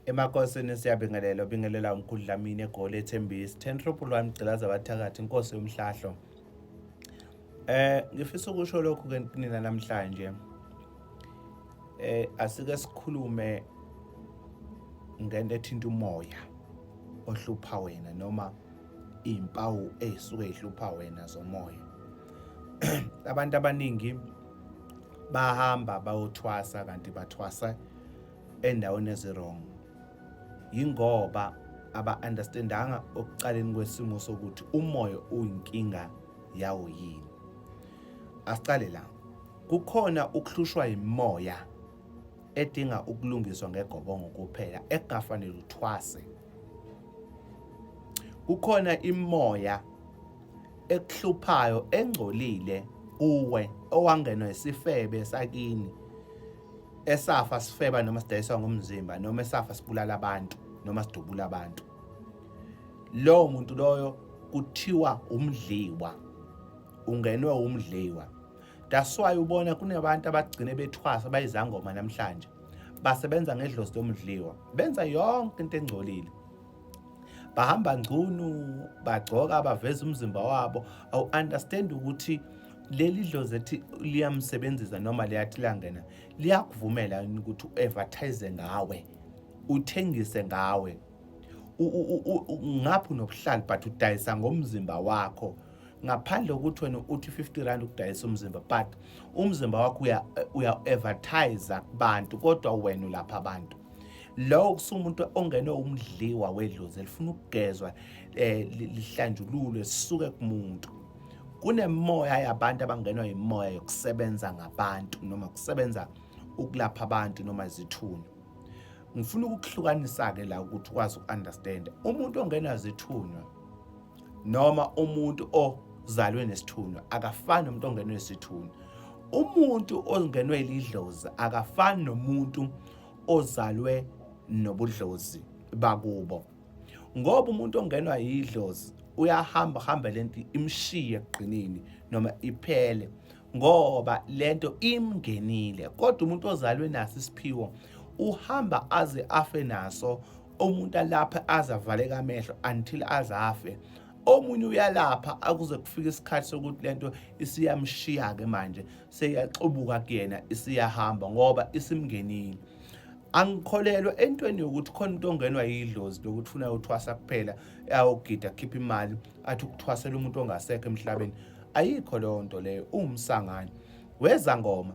emakosini siyabingelela obingelela umkhulu dlamini egoli ethembisi tentrupul wami gcilaza abathakathi inkosi yomhlahlo eh ngifisa ukusho lokhu ke nina namhlanje eh asike sikhulume ngento ethinta umoya ohlupha wena noma impawu ezisuke ihlupha wena zomoya abantu abaningi bahamba bayothwasa kanti bathwasa endaweni ezirong yingoba aba-understandanga okuqaleni kwesimo sokuthi umoya uyinkinga yawo yini asiqale la kukhona ukuhlushwa yimoya edinga ukulungiswa ngegobongo kuphela ekungafanele uthwase kukhona imoya ekuhluphayo engcolile kuwe owangenwa isifebe sakini esafa sifeba noma sidayiswa ngomzimba noma esafa sibulala abantu noma sidubula abantu lowo muntu loyo kuthiwa umdliwa ungenwe umdliwa that's why ubona kunebantu abagcine bethwasa bayizangoma namhlanje basebenza ngedlozi lomdliwa benza yonke into engcolile bahamba ngcunu bagcoka baveza umzimba wabo awu understand ukuthi leli dlozi ethi liyamsebenzisa noma liyathi langena liyakuvumela ukuthi u-advertise ngawe uthengise ngawe ngapho nobuhlali but udayisa ngomzimba wakho ngaphandle kokuthi wena uthi 50 rand ukudayisa umzimba but umzimba wakho uya uya advertise kubantu kodwa wena lapha abantu lowo kusumuntu ongene umdliwa wedlozi elifuna ukugezwa eh lihlanjululwe sisuke kumuntu kunemoya yabantu abangenwa imoya yokusebenza ngabantu noma kusebenza ukulapha abantu noma izithuni ngifuna ukuhlukanisa ke la ukuthi ukwazi ukunderstand umuntu ongenazithunywa noma umuntu ozalwe nesithunyo akafani nomuntu ongenwe isithunyo umuntu ongenwe lidlozi akafani nomuntu ozalwe nobudlozi bakubo ngoba umuntu ongenwa yidlozi uyahamba hamba lento imshiye ekugqinini noma iphele ngoba lento imngenile kodwa umuntu ozalwe naso isiphiwo uhamba aze afe naso umuntu alapha aze avaleke amehlo until azafe omunye uyalapha akuze kufike isikhathi sokuthi lento isiyamshiya ke manje seyaxubuka kuyena isiyahamba ngoba isimngenile angikholelwa entweni yokuthi khona into ongenwa yidlozi lokuthi funa uthwasa kuphela ayogida khipha imali athi ukuthwasela umuntu ongasekho emhlabeni ayikho leyo nto leyo uwumsangane weza ngoma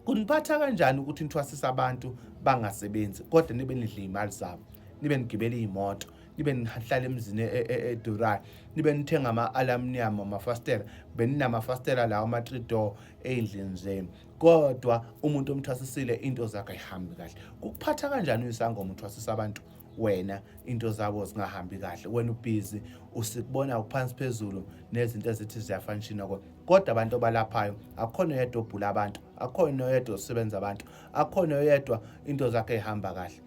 kuniphatha kanjani ukuthi nithwasisa abantu bangasebenzi kodwa nibe nidla iy'mali zabo nibe nigibela iy'moto nibe nihlala emzini e, e, e, edurai nibe nithenga ama-alumnium amafastela beninamafastela lawo ama-three door ey'ndlini zenu kodwa umuntu omthwasisile into zakhe ayihambi kahle kukuphatha kanjani uyisangoma uthwasisa abantu wena into zabo zingahambi kahle wena ubhizi usikubona uphansi phezulu nezinto ezithi ziyafanishina kodwa abantu obalaphayo akukho noyedwa obhula abantu akukho noyedwa osebenza abantu akukho noyedwa into zakhe ihamba kahle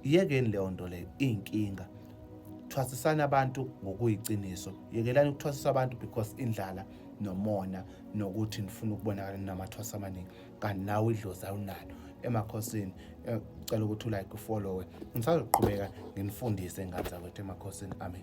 yekeni leyo nto leyo iyinkinga thwasisani abantu ngokuyiqiniso yekelani ukuthwasisa abantu because indlala nomona nokuthi nifuna ukubonakala ninamathwasa amaningi kanti nawe idlozi awunalo emakhosini eh, cela ukuthi ulike ufollowe ngisazoqhubeka nginifundise ngani zakwethu emakhosini amen